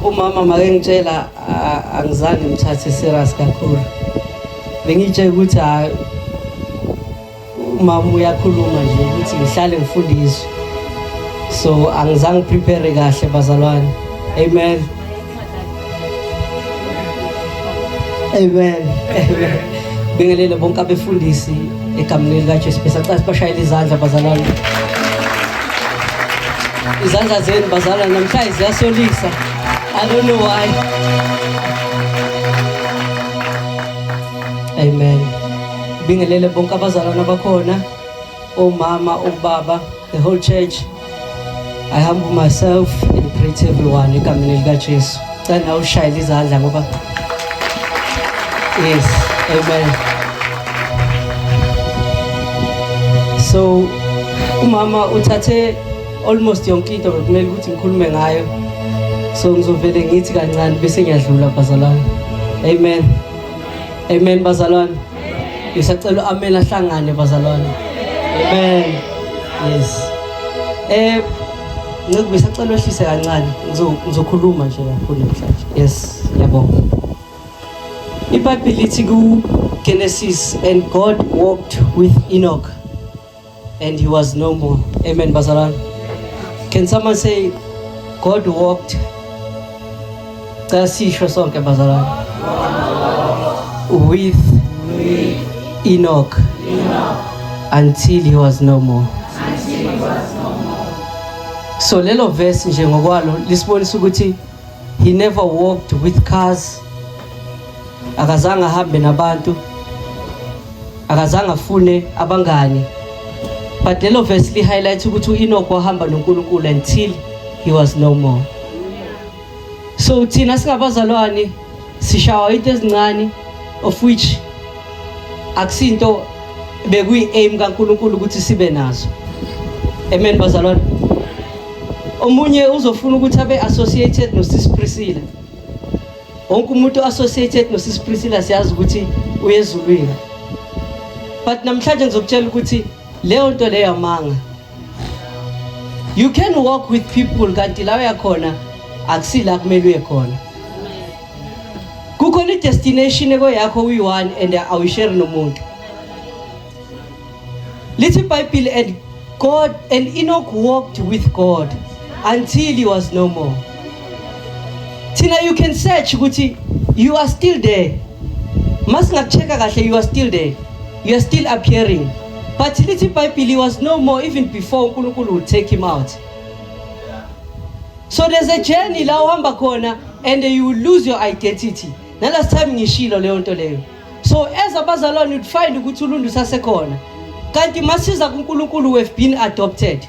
umama makengitshela angizange ngithathe serious kakhulu bengitshela ukuthi hayi umama uyakhuluma nje ukuthi ngihlale ngifundiswe so angizange prepare kahle bazalwane amen amen amen bingelele bonke abefundisi egameni likaJesu bese acase bashayela izandla bazalwane izandla zenu bazalwa namhlanje ziyasolisa i don't know why amen bingelele bonke abazalwana bakhona omama obaba The whole church I humble myself and pray to everyone egameni likaJesu. Cela nawe ushayele izandla ngoba Yes, amen. So umama uthathe almost yonke into bekumele ukuthi ngikhulume ngayo. So ngizovele ngithi kancane bese ngiyadlula bazalwane. Amen. Amen bazalwane. Ngisacela amela hlangane bazalwane. Amen. Yes. Eh Nceke ngisacela wehlise kancane ngizokhuluma nje lapho namhlanje. Yes, yabonga. IBhayibheli lithi ku Genesis and God walked with Enoch. and he was no more amen bazalwane can someone say god walked cela sisho sonke bazalwane with enoch until he was no more so lelo verse nje ngokwalo lisibonisa ukuthi He never walked with cars. Akazange ahambe nabantu. Akazange afune abangani. But lelo verse li highlight ukuthi uEnoch wahamba noNkulunkulu until he was no more. So thina singabazalwane sishawa into ezincane of which akusinto bekuyi aim kaNkuluNkulu ukuthi sibe nazo amen bazalwane omunye uzofuna ukuthi abe associated nosis Priscilla wonke umuntu associated nosis Priscilla siyazi ukuthi uyezulwini but namhlanje ngizokutshela ukuthi leyo nto leyo amanga you can walk with people kanti la uya khona akusila kumele uye khona kukhona i-destination ekoyakho uyi-one and awuyisheri nomuntu lithi ibhayibhile and god and enoch walked with god until he was no more thina you can search ukuthi you are still there masingakucheka kahle you are still there you are still appearing but lithi ibhayibhile he was no more even before unkulunkulu would take him out so there's a journey la uhamba khona and you will lose your identity nalast time ngishilo leyo nto leyo so as abazalwane you'd find ukuthi ulundu sasekhona kanti masiza kunkulunkulu we've been adopted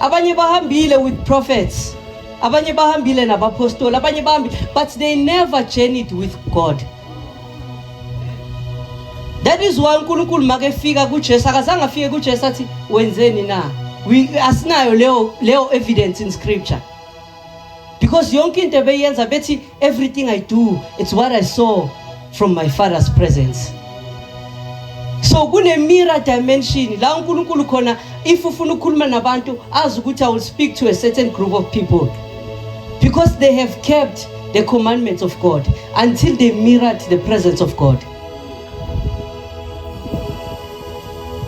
abanye bahambile with prophets abanye bahambile nabapostoli abanye bahambile but they never journeyed with god that is why unkulunkulu makefika kujesu akazange afike kujesu athi wenzeni na asinayo leyo leyo evidence in scripture because yonke into ebeyenza bethi everything i do it's what i saw from my father's presence so kune-mirror dimension la unkulunkulu khona if ufuna ukukhuluma nabantu azi ukuthi i will speak to a certain group of people because they have kept the commandments of god until they mirrored the presence of god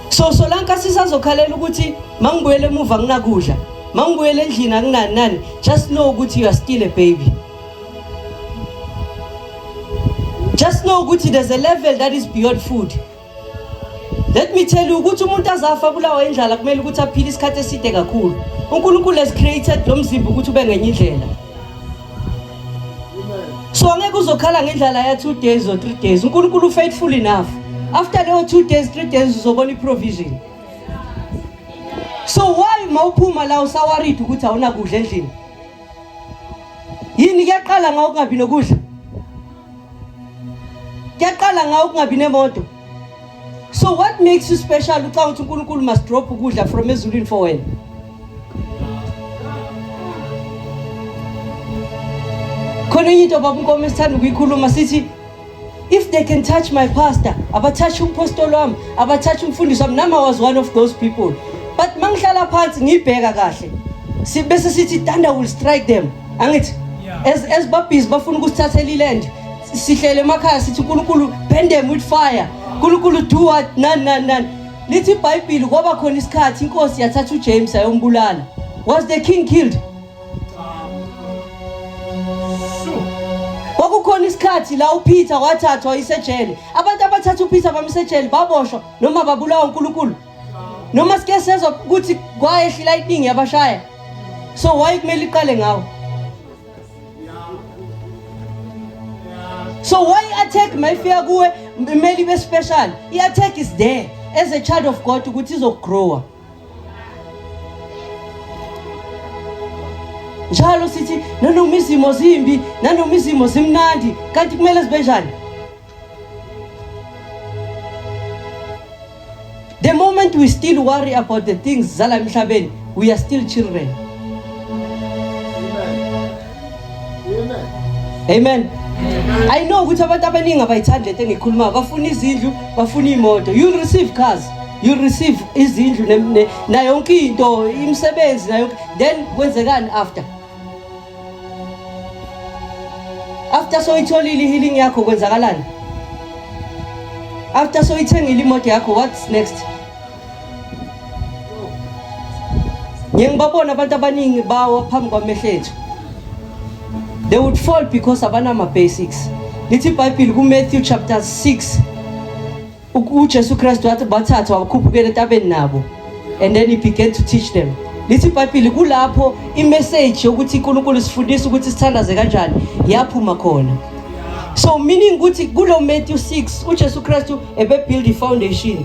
so solanka sisazokhalela ukuthi mangibuyele emuva nginakudla mangibuyela endlini akunani nani just know ukuthi you are still a baby just know ukuthi there's a level that is beyond food let me tell you ukuthi umuntu azafa bulawa indlala kumele ukuthi aphile isikhathi eside kakhulu unkulunkulu has created lo mzimba ukuthi ube ngenye indlela so angeke uzokhala ngendlala ya two days or three days unkulunkulu ufaithful enough after leyo two days three days uzobona iprovision so why mawuphuma la usawaridi ukuthi awunakudla endlini yini kuyaqala ngawo kungabi nokudla kuyaqala ngawo kungabi nemoto so what makes you special ucanga ukuthi unkulunkulu must drop ukudla from ezulwini for wena khona enye into baba unkomo esithanda ukuyikhuluma sithi If they can touch my pastor, abathathe umpostoli wami, abathathe umfundisi wami, nami I was one of those people. But mangihlala phansi ngibheka kahle. Sibese sithi thunder will strike them. Angithi as as babhizi bafuna ukusithathela iland sihlele emakhaya sithi uNkulunkulu bend them with fire. uNkulunkulu do what nan nan nan. Lithi iBhayibheli kwaba khona isikhathi inkosi yathatha uJames ayombulala. Was the king killed? kwakukhona isikhathi la upeter wathathwa isejele abantu abathatha upeter bamsejele baboshwa noma babulawa unkulunkulu noma sike sezwa ukuthi kwayehlila iningi yabashaya so why kumele iqale ngawo so why i-attack mayifika kuwe kumele ibe special i-attack is there as a child of god ukuthi izogrowa njalo sithi nanoma izimo zimbi nanoma izimo zimnandi kanti kumele zibe njani the moment we still worry about the things zala emhlabeni we are still children Amen. I know ukuthi abantu abaningi abayithandi lento engikhuluma bafuna izindlu bafuna imoto you receive cars you receive izindlu na yonke into imisebenzi na yonke then kwenzekani after after soyitholile healing yakho kwenzakalani after soyithengile imoto yakho what's next ngiye ngibabona abantu abaningi bawa phambi kwamehlo ethu they would fall because abanama-basics lithi ibhayibhile kumatthew chapter 6 ujesu kristu wathi bathathwa wakhuphukela entabeni nabo and then he began to teach them lithi ibhayibhile kulapho imeseji yokuthi unkulunkulu sifundisa ukuthi sithandaze kanjani yaphuma khona so meaning ukuthi kulo matthew 6 ujesu kristu ebebuild i-foundation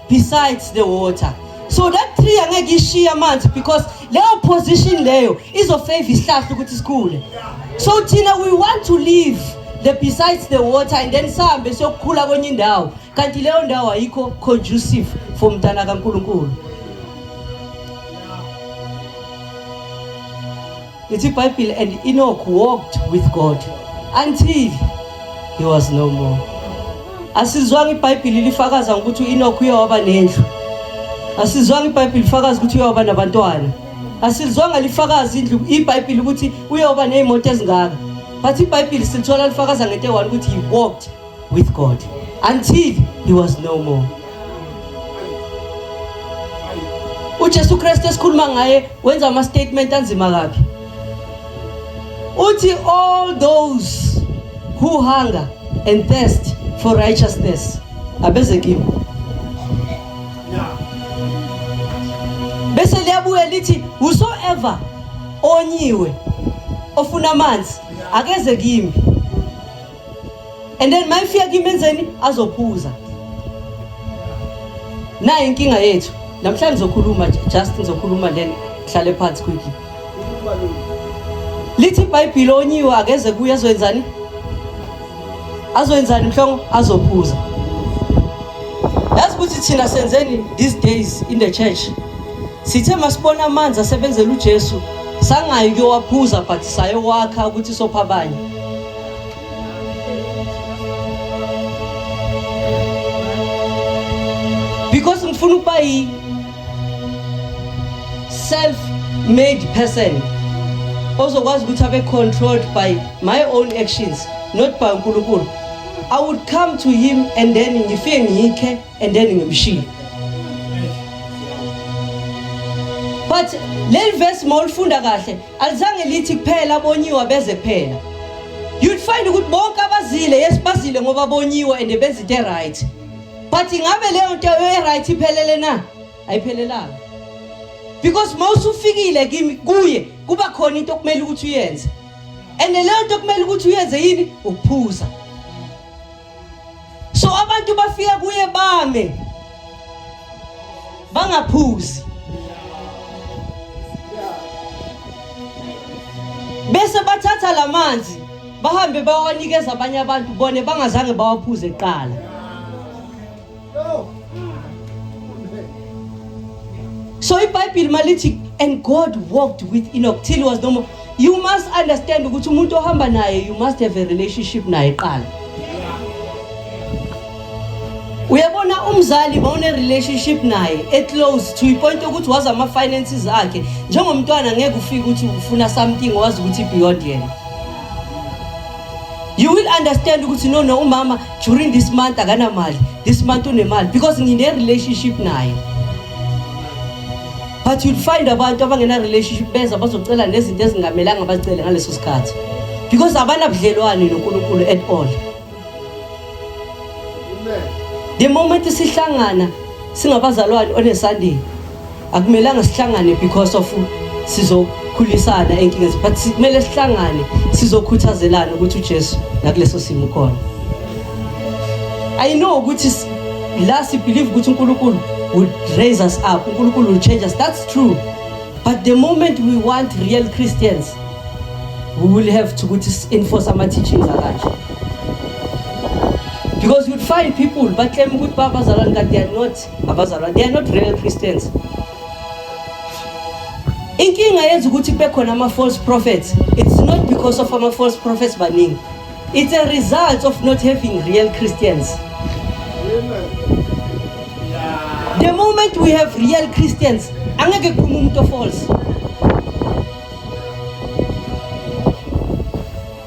besides the water so that tree angeke ishiye amanzi because leyo position leyo izofavor isihlahla ukuthi sikhule so thina we want to live the besides the water and then sihambe siyokukhula kwenye indawo kanti leyo ndawo ayikho conducive for mntana kaNkuluNkulu It's a Bible and Enoch walked with God until he was no more. Asizwanga iBhayibheli lifakaza ukuthi uEnoch uye waba nendlu. Asizwanga iBhayibheli lifakaza ukuthi uye waba nabantwana. Asizwanga lifakaza indlu iBhayibheli ukuthi uye waba nezimoto ezingaka. But iBhayibheli silithola lifakaza ngento eyi-one ukuthi he walked with God until he was no more. uJesu Kristu esikhuluma ngaye wenza ama statement anzima kabi uthi all those who hunger and thirst for righteousness abeze kimi bese liyabuya lithi whosoever onyiwe ofuna amanzi akeze kimi and then mayifika kimi enzeni azophuza nayo inkinga yethu namhlanje ngizokhuluma just ngizokhuluma then hlale phansi quickly lithi ibhayibhile onyiwe akeze kuye azoyenzani azoyenzani mhlongo azophuza yazi ukuthi thina senzeni these days in the church sithe masibona amanzi asebenzela ujesu sangayi kuyowaphuza but sayowakha ukuthi sopha abanye because ngifuna ukuba yi self made person ozokwazi ukuthi abe controlled by my own actions not by uNkulunkulu I would come to him and then ngifike ngikhe and then ngimshiye but leli verse mawulifunda kahle alizange lithi kuphela abonyiwa beze kuphela you'd find ukuthi bonke abazile yes bazile ngoba bonyiwa and benza into right but ingabe leyo nto e-right iphelele na ayiphelelanga because uma usufikile kimi kuye kuba khona into okumele ukuthi uyenze and leyo nto okumele ukuthi uyenze yini ukuphuza so abantu bafika kuye bame bangaphuzi bese bathatha lamanzi bahambe bawanikeza abanye abantu bone bangazange bawaphuze kuqala So iBhayibheli malithi and God walked with Enoch till he was no more. You must understand ukuthi umuntu ohamba naye you must have a relationship naye qala. Uyabona umzali bawune relationship naye e close to ipoint ukuthi wazi ama finances akhe njengomntwana ngeke ufike ukuthi ufuna something wazi ukuthi beyond yena. You will understand ukuthi no no umama during this month akanamali this month unemali because ngine-relationship naye but you'd find abantu abangena-relationship beza bazocela nezinto ezingamelanga bacele ngaleso sikhathi because abanabudlelwane nonkulunkulu at all the moment sihlangana singabazalwane onesandini akumelanga sihlangane because of sizokhulisana enkingezi but kumele sihlangane sizokhuthazelana ukuthi uJesu nakuleso simo khona i know ukuthi la si believe ukuthi uNkulunkulu would raise us up uNkulunkulu will change us that's true but the moment we want real Christians we will have to ukuthi enforce ama teachings akanje because you'd find people but claim ukuthi babazalwane kanti they are not abazalwa they are not real Christians inkinga yenza ukuthi kube khona ama false prophets it's not because of ama false prophets baningi it's a result of not having real Christians the moment we have real Christians angeke kuphume umuntu false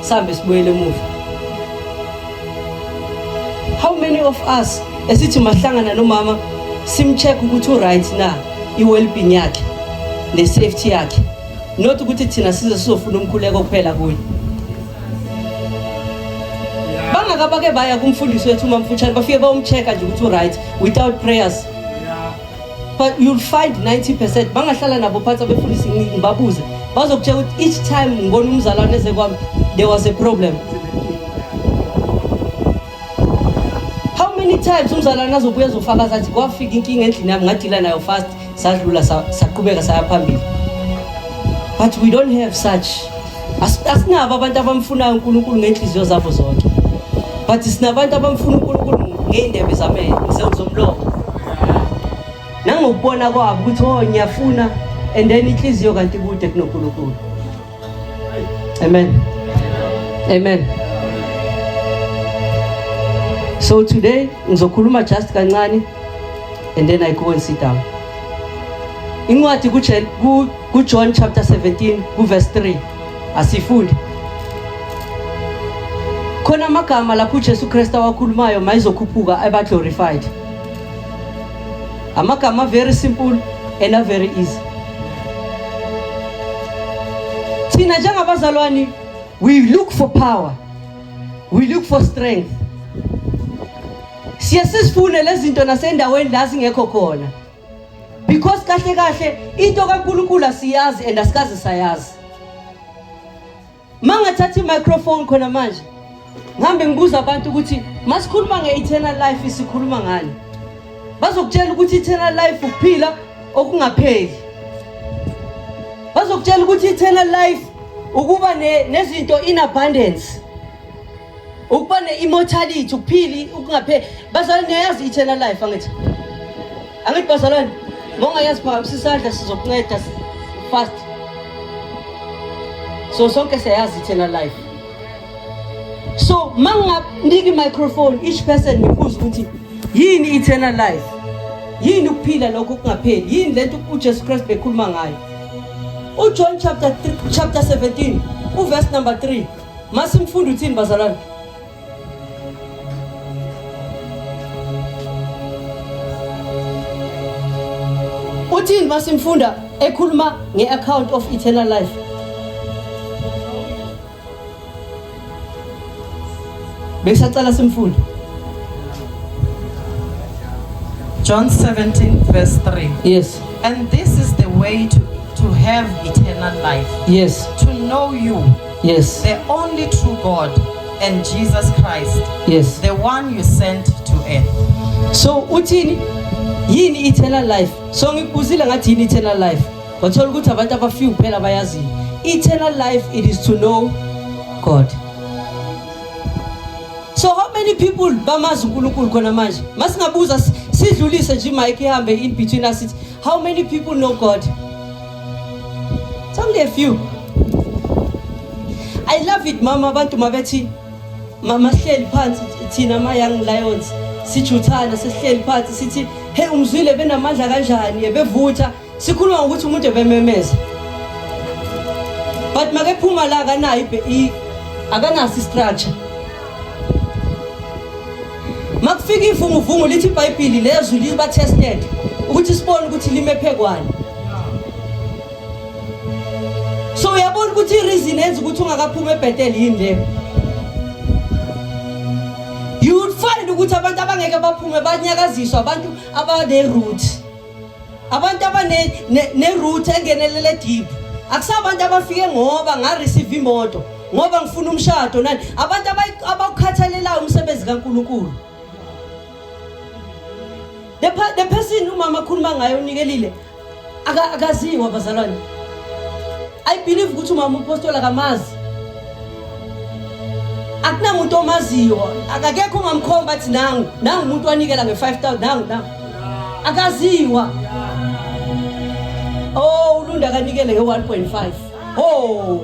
sambe sibuyele emuva how many of us esithi mahlangana nomama simcheck ukuthi uright na i-wellbeing yakhe ne-safety yakhe not ukuthi thina size sizofuna umkhuleko kuphela kuye bangaka bake baya kumfundisi wethu umamfutshane bafike bawumcheck-a nje ukuthi uright without prayers but you'll find 90% bangahlala nabo phansi abefundisi ngibabuze bazokutshela ukuthi each time ngibona umzalwane eze kwami there was a problem how many times umzalwane azobuya ezofakaza athi kwafika inkinga endlini yami ngadila nayo fast sadlula saqhubeka saya phambili but we don't have such asinabo abantu abamfunayo uNkulunkulu ngenhliziyo zabo zonke but sinabantu abamfuna uNkulunkulu ngeindebe zamehlo zomlomo nangokubona kwabo ukuthi oh ngiyafuna and then inhliziyo kanti kude kunoNkulunkulu amen amen so today ngizokhuluma just kancane and then i go and sit down incwadi ku KuJohn chapter 17 kuverse 3 asifunde khona amagama lapho uJesu Kristu awakhulumayo mayizokhuphuka aba glorified amagama very simple and a very easy thina njengabazalwane we look for power we look for strength siye sizifune lezinto nasendaweni la zingekho khona because kahle kahle into kaNkulunkulu asiyazi and asikaze sayazi mangathatha i-microphone khona manje ngihambe ngibuza abantu ukuthi masikhuluma nge-eternal life sikhuluma ngani bazokutshela ukuthi eternal life ukuphila okungapheli bazokutshela ukuthi eternal life ukuba nezinto in abundance ukuba ne-immortality ukuphili ukungapheli bazalwane niyayazi i-eternal life angithi angithi bazalwane mongayazi phakamise isandla sizokunceda fast so sonke siyayazi i-eternal life so ma nginganika i-microphone each person ngibuze ukuthi yini i-eternal life yini ukuphila lokho kungapheli yini le nto ujesu kristu bekhuluma ngayo ujohn chapter, chapter 17 uverse number 3 Masimfunda uthini bazalwane? Uthini masimfunda ekhuluma nge-account of eternal life? Besacela simfunde. John 17 verse 3. Yes. And this is the way to, to have eternal life. Yes. To know you Yes. The only true God and Jesus Christ. Yes. The one you sent to earth. So uthini? Yini eternal life? So ngikubuzile ngathi yini eternal life? Wathola ukuthi abantu abafika kuphela bayazi. Eternal life it is to know God. So how many people bamazi uNkulunkulu khona manje? Masingabuza sidlulise nje mic ihambe in between us How many people know God? It's only a few. I love it mama abantu mabethi mama sihleli phansi thina ma young lions sijuthana sesihleli phansi sithi hey umzwile benamandla kanjani ebevutha sikhuluma ngokuthi umuntu ebememeza but makephuma la akanayo akanaso istructure Makufika ivunguvungu lithi iBhayibheli lezwi liba tested ukuthi sibone ukuthi limephe kwani. So uyabona ukuthi ireason enza ukuthi ungakaphumi eBethel yini le. You would find ukuthi abantu abangeke baphume banyakaziswa abantu abane route. abantu abanerutha engenelele deep akusabantu abafike ngoba ngareceive imoto ngoba ngifuna umshado nani abantu abawukhathalelayo umsebenzi kaNkuluNkulu the, the person umama akhuluma ngayo unikelile akaziwa abazalwane i believe ukuthi umama upostola kamazi akunamuntu omaziyo akakekho ongamkhomba athi nangu nangu umuntu wanikela nge-5000 nangu nangu akaziwa oh ulunda kanikele nge 1.5 oh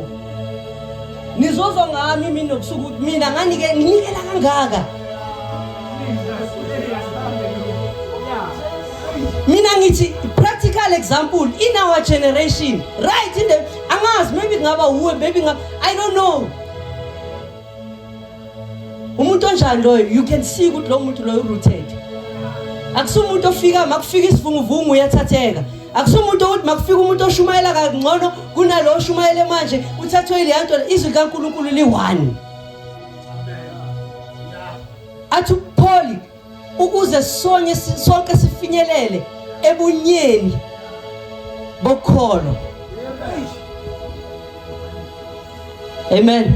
nizozwa ngami mina nobusuku ukuthi mina nganike nginikela kangaka mina ngithi practical example in our generation right in the angazi maybe kungaba wuwe maybe i don't know umuntu onjani loyo you can see ukuthi lo muntu loyo urooted akusi umuntu ofika makufika isivunguvungu uyathatheka akusi umuntu ukuthi makufika umuntu oshumayela kangcono kunalo oshumayele manje uthathwe leya nto izwi likankulunkulu liyi-one athi upholi ukuze sonye sonke sifinyelele ebunyeni bokholo amen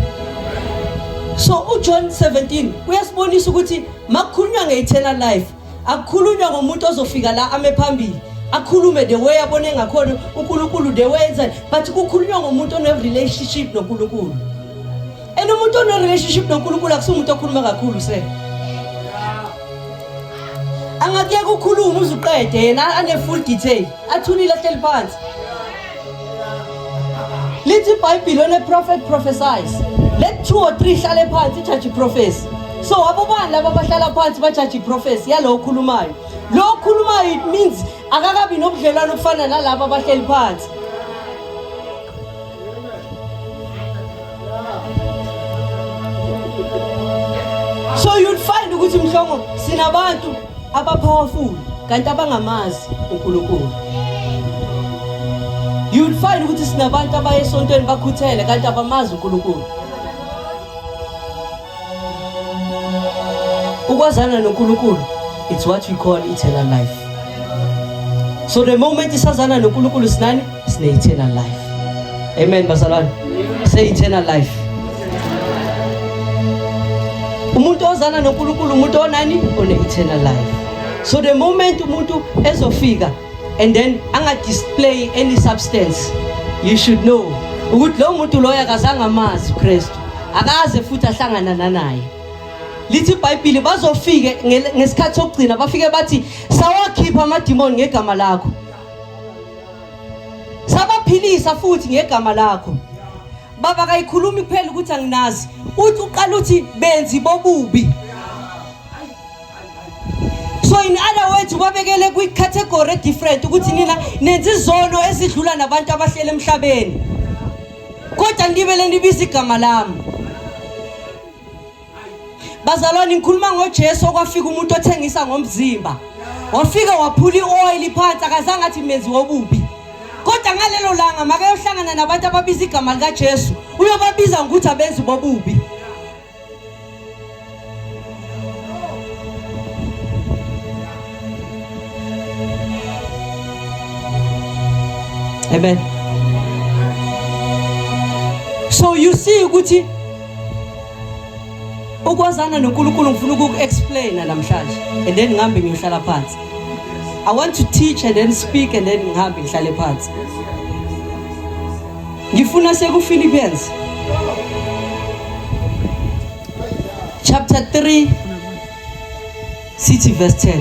so uJohn 17 uyasibonisa ukuthi makukhulunywa ngeeternal life akukhulunywa ngomuntu ozofika la ame phambili akhulume the way abone ngakhona uNkulunkulu the way enza but kukhulunywa ngomuntu one relationship noNkulunkulu and umuntu onerelationship nonkulunkulu akusiwo umuntu okhuluma kakhulu se angakuyeka ukhuluma uze uqede yena ane-full detail athulile ahleli phansi lithi ibhayibhile one-prophet prophesize let two or three hlale phansi ijaji iprofesi so abobani laba abahlala phansi bajaji iprofesi yalowo okhulumayo lo okhulumayo it means akakabi nobudlelwane obufana nalaba abahleli phansi so you'd find ukuthi mhlongo sinabantu abapowerful kanti abangamazi uNkulunkulu you'd find ukuthi sinabantu abayesontweni bakhuthele kanti abamazi uNkulunkulu ukwazana noNkulunkulu it's what we call eternal life so the moment isazana noNkulunkulu sinani sine eternal life amen bazalwane say eternal life umuntu ozana noNkulunkulu umuntu onani one eternal life so the moment umuntu ezofika and then angadisplay any substance you should know ukuthi lo muntu loyo akazange amazi uKristu akaze futhi ahlangana nanaye lithi iBhayibheli bazofike ngesikhathi sokugcina bafike bathi sawakhipha amadimoni ngegama lakho sabaphilisa futhi ngegama lakho baba kayikhulumi kuphela ukuthi anginazi uthi uqala uthi benzi bobubi so in other words babekele kwi-category different ukuthi nina nenza izono ezidlula nabantu abahlele emhlabeni kodwa nibele nibiza igama lami bazalwane ngikhuluma ngojesu okwafika umuntu othengisa ngomzimba wafika waphula i-oyili phansi akazange athi menzi wobubi kodwa ngalelo langa makayohlangana nabantu ababiza igama likajesu uyobabiza ngokuthi abenzi bobubi Amen. So you see ukuthi ukwazana noNkulunkulu ngifuna ukuku-explaina namhlanje and then ngihambe ngiyohlala phansi. I want to teach and then speak and then ngihambe ngihlale phansi. Ngifuna sekuPhilippians chapter 3 sithi verse 10.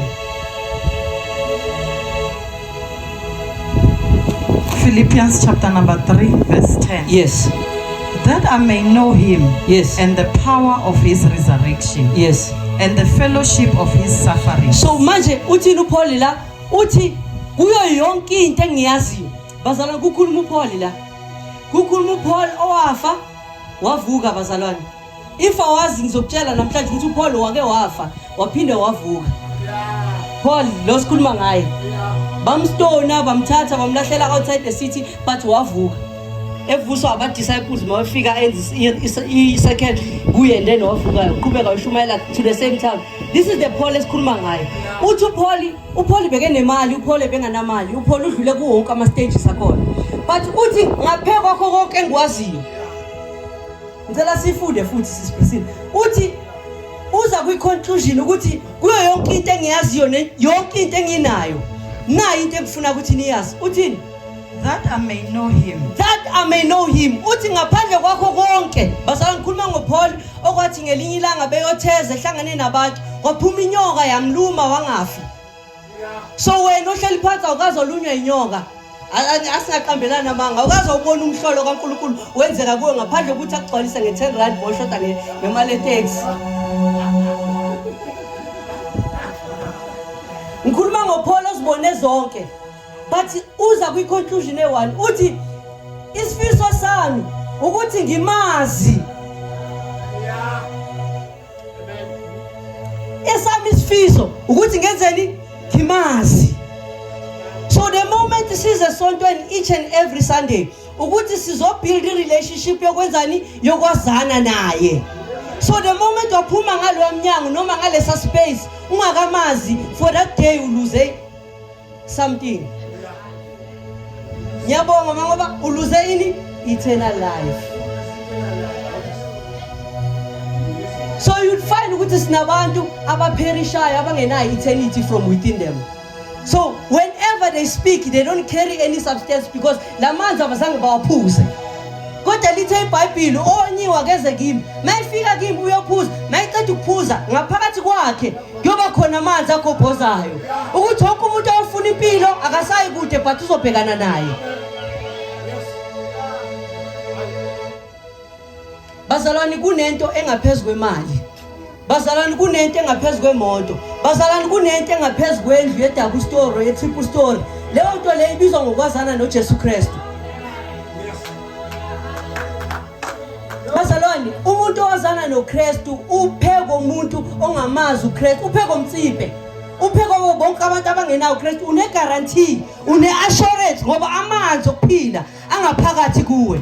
Philippians chapter number 3 verse 10. Yes. That I may know him. Yes. And the power of his resurrection. Yes. And the fellowship of his suffering. So manje uthini uPaul la uthi kuyo yonke into engiyaziyo Bazalwane kukhuluma uPaul la. Kukhuluma uPaul owafa wavuka bazalwane. If awazi ngizokutshela namhlanje ukuthi uPaul wake wafa waphinde wavuka. Paul lo sikhuluma ngaye. Bamstona bamthatha bamlahlela outside the city but wavuka. Evuswa aba disciples mawefika enza i second kuye and then wavuka uqhubeka ushumayela to the same time. This is the Paul esikhuluma ngaye. Uthi uPaul upholi bekenemali uphole benganamali upholi udlule kuwo wonke ama-stages akhona but uthi ngaphe kwakho konke engikwaziyo ngicela sifunde futhi sisibrisile uthi uza kwi-conclusion ukuthi kuyo yonke into engiyaziyo yonke into enginayo nayo into engifuna ukuthi niyazi uthini That I may know him. That I may know him. Uthi ngaphandle kwakho konke. Basala ngikhuluma ngoPaul okwathi ngelinye ilanga beyotheza ehlangane nabantu. Waphuma inyoka yamluma wangafi. So wena ohleli phansi awukaze olunywa inyoka. asingaqambelani amanga awukaze ubona umhlolo kaNkulunkulu wenzeka kuwe ngaphandle ukuthi akugcwalise nge-10 rand boshoda ngemali eteksi ngikhuluma ngopholo ozibone zonke but uza kwi-conclusion eyi-one uthi isifiso sami ukuthi ngimazi esami isifiso ukuthi ngenzeni ngimazi so the moment size esontweni each and every sunday ukuthi sizobuild i-relationship yokwenzani yokwazana naye so the moment waphuma ngalowa mnyango noma ngalesa space ungakamazi for that day uluze something ngiyabonga uma ngoba uluze yini eternal life so you'd find ukuthi sinabantu abapherishayo abangenayo eternity from within them so whenever they speak they don't carry any substance because la manzi abazange bawaphuze kodwa lithe ibhayibhile onyiwa keze kimi mayifika kimi uyophuza mayiceda ukuphuza ngaphakathi kwakhe kuyoba khona amanzi agobhozayo ukuthi wonke umuntu awufuna impilo akasayi kude but uzobhekana naye bazalwane kunento engaphezu kwemali bazalwane kunento engaphezu kwemoto bazalwane kunento engaphezu kwendlu ye-double story ye-triple story leyo nto leyo ibizwa ngokwazana nojesu kristu Bazalwane, umuntu owazana noKristu upheko umuntu ongamazi uKristu, upheko mtsimpe. Upheko wabo bonke abantu abangenawo uKristu une guarantee, une assurance ngoba amanzi okuphila angaphakathi kuwe.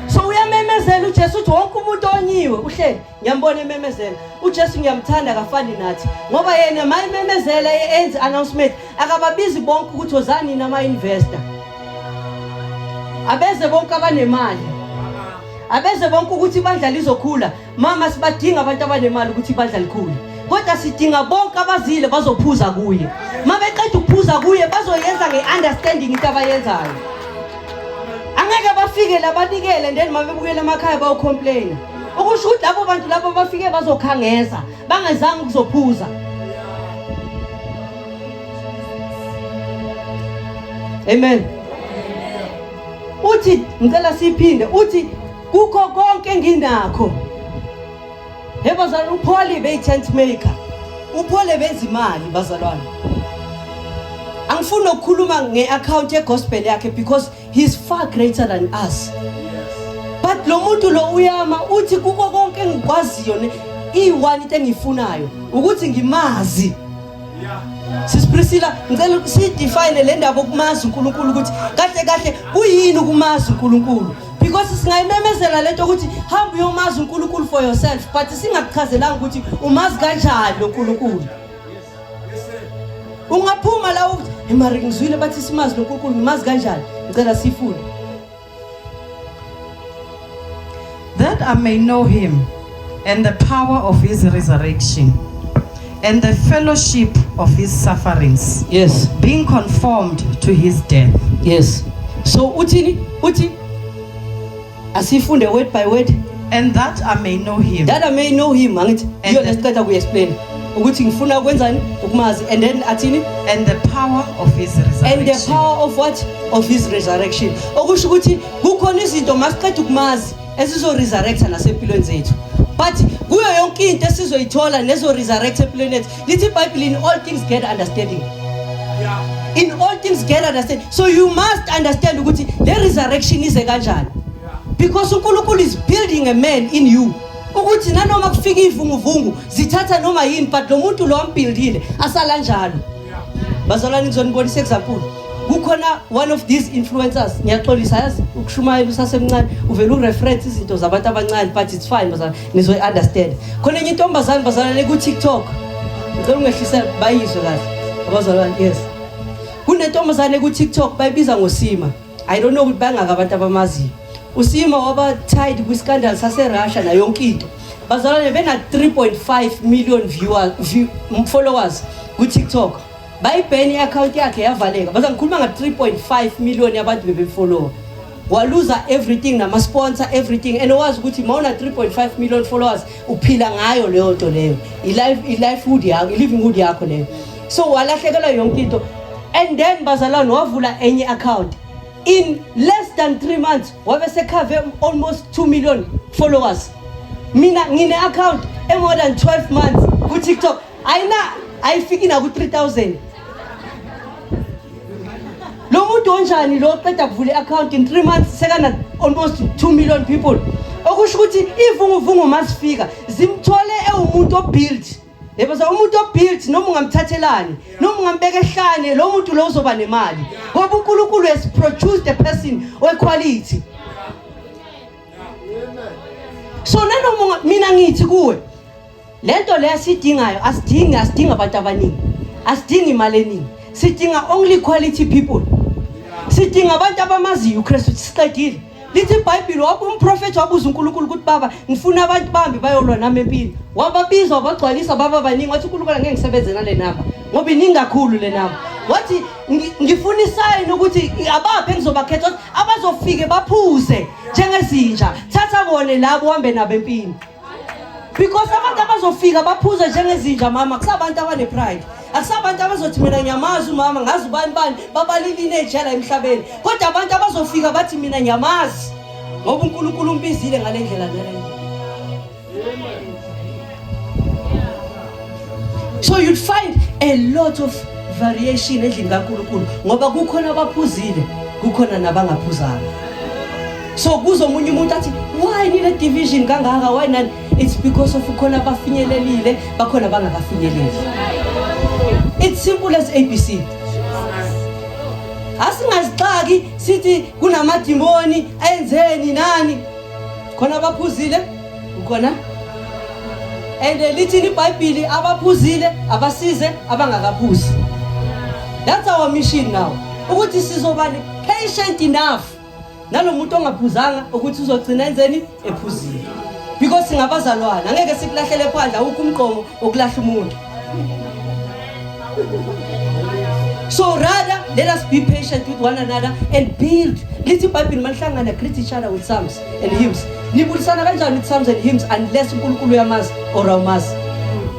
So uyamemezela uJesu uthi wonke umuntu onyiwe uhleli ngiyambona ememezela ujesu ngiyamthanda akafani nathi ngoba yena ma ememezela enze announcement akababizi bonke ukuthi ozani nina ama-investor abeze bonke abanemali abeze bonke ukuthi ibandla lizokhula mama sibadinga abantu abanemali ukuthi ibandla likhule kodwa sidinga bonke abazile bazophuza kuye ma beqeda ukuphuza kuye bazoyenza nge-understanding into abayenzayo angeke bafike labanikele ndeni ma bebukela emakhaya bawucomplaina okusho ukuthi labo bantu labo bafike bazokhangeza bangezanga ukuzophuza amen uthi ngicela siphinde uthi kukho konke enginakho he bazalwane upholi beyi-tent maker uphole bezimali bazalwane angifuni ukukhuluma nge-akhawunti yegospel yakhe because He's far greater than us. But lo muntu lo uyama uthi kuko konke engikwaziyo ne i-one into engiyifunayo ukuthi ngimazi. Sis Priscilla ngicela sidefine le ndaba okumazi uNkulunkulu ukuthi kahle kahle kuyini ukumazi uNkulunkulu because singayimemezela lento ukuthi hamba uyomazi uNkulunkulu for yourself but singakuchazelanga ukuthi umazi kanjani uNkulunkulu. ungaphuma la ukuthi imari ngizwile bathi simazi nonkulunkulu ngimazi kanjani ngicela sifune that i may know him and the power of his resurrection and the fellowship of his sufferings yes being conformed to his death yes so uthini uthi asifunde word by word and that I may know him that I may know him angithi iyo lesiceda ku explain ukuthi ngifuna ukwenzani ukumazi and then athini and the power of his resurrection and the power of what of his resurrection okusho ukuthi kukhona izinto masiqeda ukumazi esizo resurrecta nasempilweni zethu but kuyo yonke into esizoyithola nezo resurrect empilweni yethu Lithi iBhayibheli in all things get understanding. Yeah. In all things get understanding. So you must understand ukuthi le resurrection ize kanjani. Because uNkulunkulu is building a man in you. Ukuthi nanoma kufika ivunguvungu zithatha noma yini but lo muntu lo ambildile asala njalo. Bazalwane ngizonibonisa example. kukhona one of these influencers ngiyaxolisa yazi ukushumayela usasemncane uvele ureference izinto zabantu abancane but it's fine bazalwane nizoyi understand khona enye intombazane bazalane ku TikTok ngicela ungehlisa bayizwe kahle abazalwane yes kunentombazane ku TikTok bayibiza ngosima i don't know ukuthi bangaka abantu abamaziyo usima waba tied kwi scandal sase Russia na yonke into bazalwane bena 3.5 million viewers view, followers ku TikTok bayibheni i account yakhe yavaleka baza ngikhuluma nga 3.5 million yabantu bebemfollowa waluza everything nama sponsor everything and owazi ukuthi mawuna 3.5 million followers uphila ngayo leyo nto leyo i life i livelihood yakho i livelihood yakho leyo so walahlekelwa yonke into and then bazalwane wavula enye account in less than 3 months wabe sekhave almost 2 million followers mina ngine account e more than 12 months ku TikTok ayina ayifiki naku 3000 lo muntu onjani lo qeda kuvula i-account in three months sekana almost two million people okusho ukuthi iy'vunguvungu uma zifika zimthole ewumuntu obuild yeboza umuntu obuild noma ungamthathelani noma ungambeka ehlane lo muntu lo uzoba nemali ngoba unkulunkulu has produced a person wequality so nanoma mina ngithi kuwe lento le asidingayo asidingi asidingi abantu abaningi asidingi imali eningi sidinga only quality people sidinga abantu abamaziyo uKristu siqedile lithi ibhayibhile wabe umprofethi wabuza unkulunkulu ukuthi baba ngifuna abantu bambi bayolwa nami empini wababiza wabagcwalisa baba baningi wathi unkulunkulu angeke ngisebenze nale namba ngoba iningi kakhulu le namba wathi ngifuna isayini ukuthi abaphi engizobakhetha ukuthi abazofike baphuze njengezinja thatha bone labo uhambe nabo empini because abantu abazofika baphuze njengezinja mama kusabantu abanepride akusabantu abazothi mina ngiyamazi umama ngazi ubani bani babalilini ejela emhlabeni kodwa abantu abazofika bathi mina ngiyamazi ngoba unkulunkulu umbizile ngale ndlela naleyo so you'd find a lot of variation endlini kankulunkulu ngoba kukhona abaphuzile kukhona nabangaphuzanga so kuza omunye umuntu athi why nile division kangaka why nani it's because of khona abafinyelelile bakhona abangakafinyeleli it's simple as abc asingazixaki sithi kunamadimoni enzeni nani khona abaphuzile ukhona and lithini ibhayibhili abaphuzile abasize abangakaphuzi that's our mission now ukuthi sizoba patient enough nalomuntu ongaphuzanga ukuthi uzogcina enzeni ephuzile because singabazalwana angeke sikulahlele phandle awukho umqomo wokulahla umuntu so rather let us be patient with one another and build lithi ibhayibhile manihlangana greet each other with psalms and hymns nibulisana kanjani with psalms and hymns unless unkulunkulu uyamazi or awumazi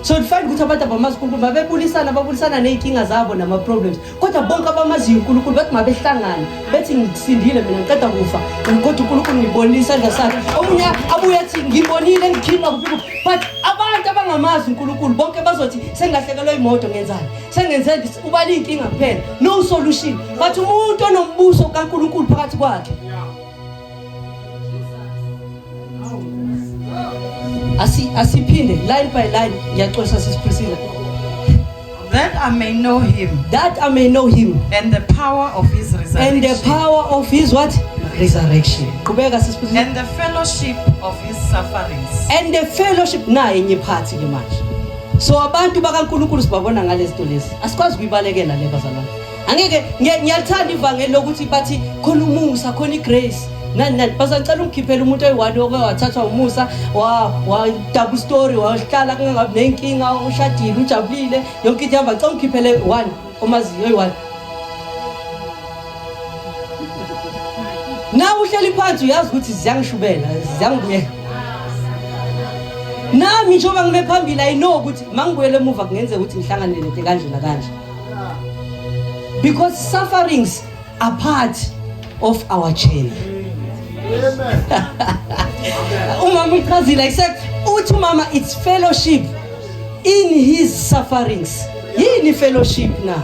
so ndifane ukuthi abantu abamazi unkulunkulu mabebulisana babulisana ney'nkinga zabo nama-problems kodwa bonke abamaziyo unkulunkulu bathi mabehlangane bethi ngisindile mina ngiqeda kufa kodwa unkulunkulu ngibonile isandla sakhe omunye abuye athi ngibonile ngikhilwa kuphi but abantu abangamazi unkulunkulu bonke bazothi sengilahlekelwa imoto ngenzani sengenze ubala iy'nkinga kuphela no solution but umuntu onombuso kankulunkulu phakathi kwakhe asiphinde line by line ngiyaxosa sisiprisile that I may know him that I may know him and the power of his resurrection and the power of his what resurrection qhubeka sisiprisile and the fellowship of his sufferings and the fellowship naye enye phathi ke manje so abantu bakaNkuluNkulu sibabona ngalezi zinto lezi asikwazi kuyibalekela le bazalwane angeke ngiyalithanda ivangeli lokuthi bathi khona umusa khona igrace nani nani basacela ukukhiphela umuntu oyi-one oke wathathwa umusa wa-double story wahlala kungangabi ney'nkinga ushadile ujabulile yonke into ihamba cela ukukhiphele one omaziyo oyi-one na uhleli phansi uyazi ukuthi ziyangishubela ziyangibuyela nami njengoba ngime phambili ayino ukuthi mangibuyele emuva kungenzeka ukuthi ngihlanganele nto kanjena kanje because sufferings are part of our journey umama uyichazile i said uthi umama it's fellowship in his sufferings yini fellowship na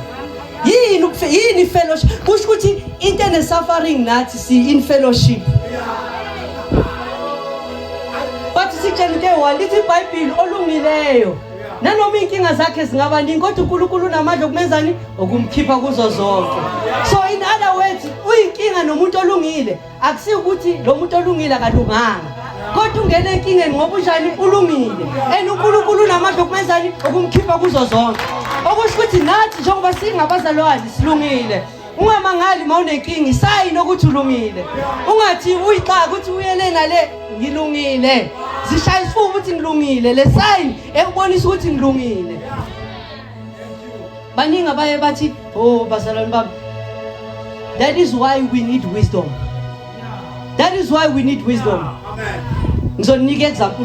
yini yini fellowship kusho ukuthi into ene suffering nathi si in fellowship but sitshela into eyi-one lithi ibhayibhile olungileyo nanoma iy'nkinga zakhe zingaba ningi kodwa unkulunkulu unamandla okumenzani okumkhipha kuzo zonke so in other words uyinkinga nomuntu olungile akusiyo ukuthi lo muntu olungile akalunganga kodwa ungena enkingeni ngoba unjani ulungile and unkulunkulu unamandla okumenzani okumkhipha kuzo zonke okusho ukuthi nathi njengoba singabazalwane silungile ungamangali uma unenkinga isayini ukuthi ulungile ungathi uyixaka ukuthi uyele nale ngilungile zishaya isifuba ukuthi ngilungile le sayini ekubonisa ukuthi ngilungile baningi abaye bathi o oh, bazalwane bami that is why we need wisdom that is why we need wisdom ngizoninika example